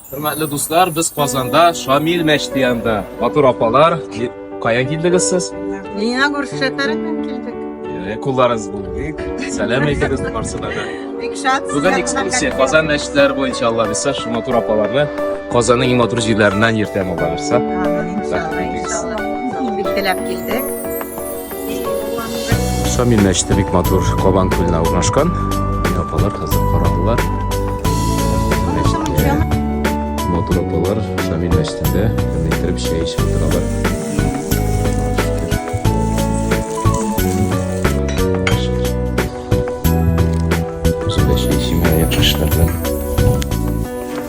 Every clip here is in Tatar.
Хөрмәтле дуслар, без Казанда Шамил мәчете янында. Матур апалар, каян килдегез сез? Мина күрсәтәрмен килдек. Э, Кулларыгыз булдык. Сәлам әйтегез барсына да. Бик шат. Бүген экскурсия Казан мәчетләре буенча Алла бирса, шул матур апаларны Казанның иң матур җирләреннән йөртәм Алла бирса. Амин, иншалла, иншалла. Бик теләп килдек. Шамил мәчете бик матур Кабан күленә урнашкан. Апалар хәзер карадылар. Матур апалар Шамил мәчетендә иттереп чәй эчеп утыралар. Үзем дә чәй эчим, япышлардан.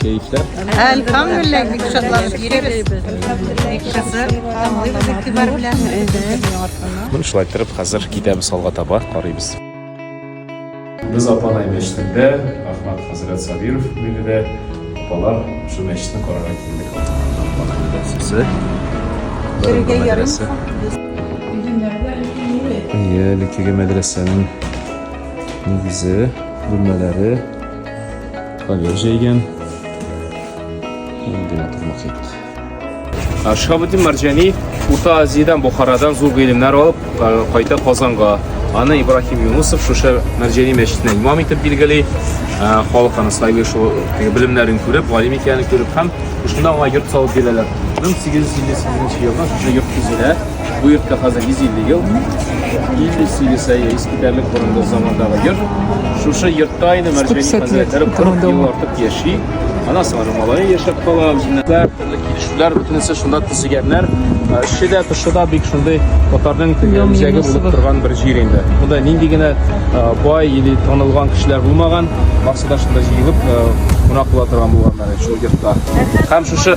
Кәефләр? Әлхәмдүлилләһ, бик шатланып йөрибез. Бик кызык, тыңлыйбыз игътибар белән. Ну, шулай торып, хәзер китәбез алга таба, карыйбыз. Без Апанай мәчетендә, Ахмад хәзрәт Сабиров бүлегендә апалар шул мәчетне карарга килдек. Апанай мәдрәсәсе. Керергә ярыймы? Әйе, әлеге мәдрәсәнең нигезе, бүлмәләре, Ковер җәйгән. Вентилятор мохит. Шабудин Марҗани Урта Азиядән, Бохарадан зур гыйлемнәр алып, кайта Казанга. Аны Ибрахим Юнусов шушы Марҗани мәчетенә имам итеп билгели. Халык аны сайлый шул белемнәрен күреп, галим икәнен күреп һәм шунда аңа йорт салып бирәләр. 1858 елда шушы йорт төзелә. Бу йортка хәзер 150 ел, 58 әйе, искитәрлек борынгы замандагы йорт. Шушы йортта инде Мәрҗәни хәзрәтләре 40 ел артык яши. Ана сары малае яшәп кала, үзенә төрле килешүләр, бөтенесе шунда төзегәннәр. Эше дә, тышы да бик шундый татарның үзәге булып торган бер җир инде. Монда нинди генә бай или танылган кешеләр булмаган, барсы да шунда җыелып, кунак була торган булганнар шул йортта. Һәм шушы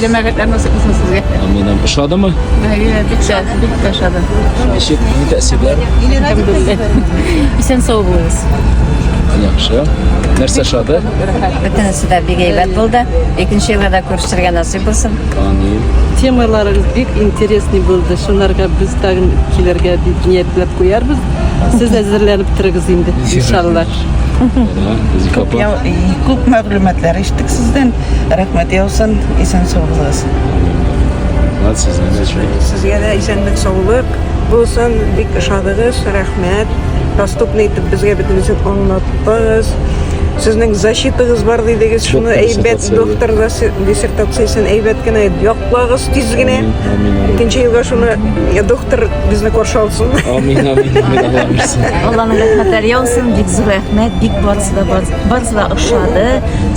Җәмәгатьләр насыйп булсын сезгә. Амин. амин. Ошадымы? Әйе, бик тә, бик тә ошады. Ничек? Ни тәэсирләр? Әлхәмдулилла. Исән сау булыгыз. Яхшы. Нәрсә ошады? Бөтенесе дә бик әйбәт булды. Икенче елга да күрешергә насыйп булсын. Амин. Темаларыгыз бик интересный булды. Шуларга без тагын килергә дип ниятләп куярбыз. Сез әзерләнеп торыгыз инде, иншалла. Зифа апа. Күп мәгълүматлар иштек сездән. Рәхмәт яусын, исән сау булыгыз. Рәхмәт сезгә дә шулай. Сезгә дә исәнлек саулык булсын. Бик ошадыгыз, рәхмәт. Доступный итеп безгә бөтенесен аңлаттыгыз. Сезнең защитагыз бар дидегез, шуны әйбәт доктор диссертациясен әйбәт кенә яклагыз тиз генә. Икенче елга шуны я доктор безне каршы алсын. Амин, амин, амин. Алланың рәхмәтләре яусын, бик зур рәхмәт, бик барысы да барысы да ошады.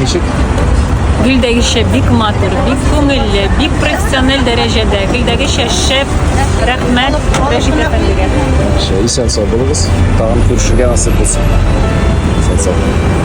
Ничек? Гөлдәгечә бик матур, бик күңелле, бик профессиональ дәрәҗәдә. Гөлдәгечә шәп, рәхмәт Рәшит әфәндегә. Шәй, исән сау булыгыз. Тагын күрешергә насыйп булсын. Исән сау.